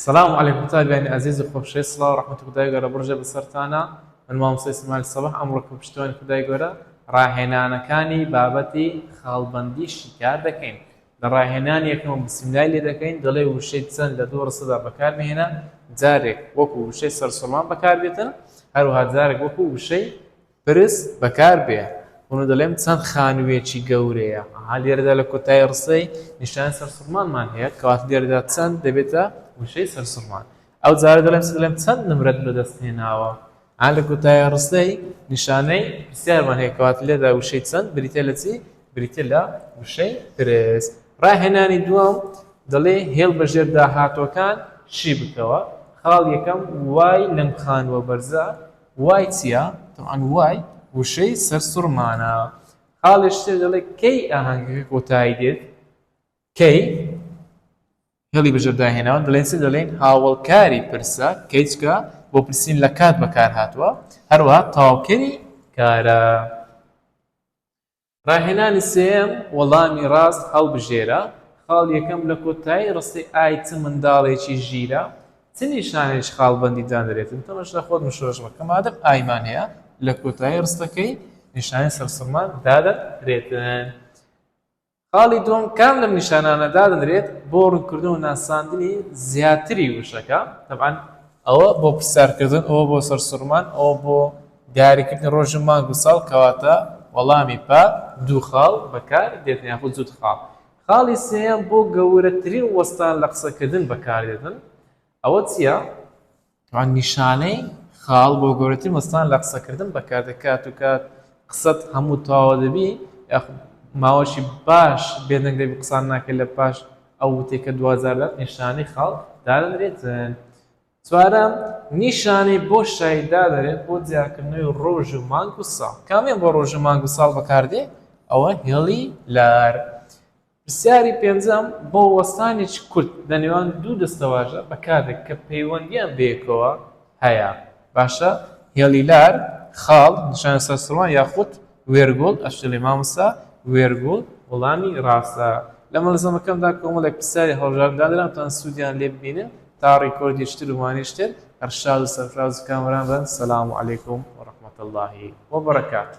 سلام علیکم قوتابیانی ئازیز و خۆشەویست سڵاو ڕەحمەتی خودای گەورە بڕژێ بەسەرتانا من مامۆستای سمال سەباح ئەمڕۆ کە پشتیوانی خودای گەورە ڕاهێنانەکانی بابەتی خاڵبەندی شیکار دەکەین لە ڕاهێنانی یەکەم بسملای لێ دەکەین دەڵێ وشەی چەند لە دوو ڕستەدا بەکار بهێنە جارێک وەکو وشەی سەرسوڵمان بەکار بێتن هەروها جارێک وەکو وشەی پرس بەکار بێ ئونو دەلێم چەند خانوویەکی گەورەیە ئەها لێرەدا لە کۆتایی رستەی نیشانی سەرسوڕمانمان هەیە کەواتە لێرەدا چەند دەبێتە وشەی سەرسوڕمان ئەو جارە دەلێم چ دەلێم چەند نمرەت بە دەست هێناوە ئا لە کۆتایی رستەی نیشانەی پرسیارمان هەیە کەواتە لێرەدا وشەی چەند بریتیە لە چی بریتیە لە وشەی پرس راهێنانی دووەم دەلێ هێڵ بە ژێر داهاتووەکان شی بکەوە خاڵ یەکەم وای لەم خانووە بەرزە وای چیە؟ تەبعەن وای وشەی سەرسوڕمانە. خاڵێ شتێ دەڵێ کەی ئاهەنگەکە کۆتایی دێت؟ کەی؟ هێڵی بژێر داهێناون دەڵێن چی دەڵێین هاوەڵکاری پرسە کەی چکە بۆ پرسین لە کات بەکارهاتووە هەروەها تەواوکەری کارە. ڕاهێنانی سێیەم، وەڵامی ڕاست هەڵبژێرە، خاڵ یەکەم لە کۆتایی ڕستەی ئای چ منداڵێکی ژیرە، چ نیشانەیەکی خاڵبەندی دانرێت؟ تەمەش لە خۆت مشۆش بکە، مادەم ئایمان هەیە لە کۆتایی ڕستەکەی نیشانەی سەرسوڕمان دادەنرێتن. خاڵی دووەم، کام لەم نیشانانە دادەنرێت بۆ ڕوونکردن و ناساندنی زیاتری وشەکە؟ تەبعەن ئەوە بۆ پرسیارکردن، ئەوە بۆ سەرسوڕمان، ئەوە بۆ دیاریکردنی ڕۆژ و مانگ و ساڵ کەواتە وەڵامی پا دوو خاڵ بەکار دێتن یاخود زووت خاڵ خاڵی سێیەم بۆ گەورەترین وەستان لە قسەکردن بەکار دێتن ئەوە چیە وان نیشانەی خاڵ بۆ گەورەترین وەستان لە قسەکردن بەکار دەکات و کات قسەت هەموو تاوە دەبی یاخود ماوەشی باش بێدەنگ دەبی قسان ناکرد لە پاش ئەو وتێکە دوجار لە نیشانەی خاڵ دادەنرێتن چوارەم، نیشانەی بۆ شایی دادەنێت بۆ دیارکردنەوەی ڕۆژ و مانگ و ساڵ، کامیان بۆ ڕۆژ و مانگ و ساڵ بەکاردێت؟ ئەوە هێڵی لار. پرسیاری پێنجەم، بۆ وەستانێکی کورت لە نێوان دوو دەستەواژە بەکاردێت کە پەیوەندییان بەیەکەوە هەیە، باشە هێڵی لار، خاڵ، نیشانە سەرسوڕمان یاخود وێرگوڵ، ئەشڵێ مامۆستا وێرگوڵ وەڵامی ڕاستە. لە مەلزەمەکەمدا کۆمەڵێک پرسیاری هەڵبژاردن دانراون تا سوودیان لێ ببینن تا ڕیکۆردیشتر و وانیشتر هەر شاد و سەرفراز و کامەران بن سلام علیکم و رحمت اللە و برکاته.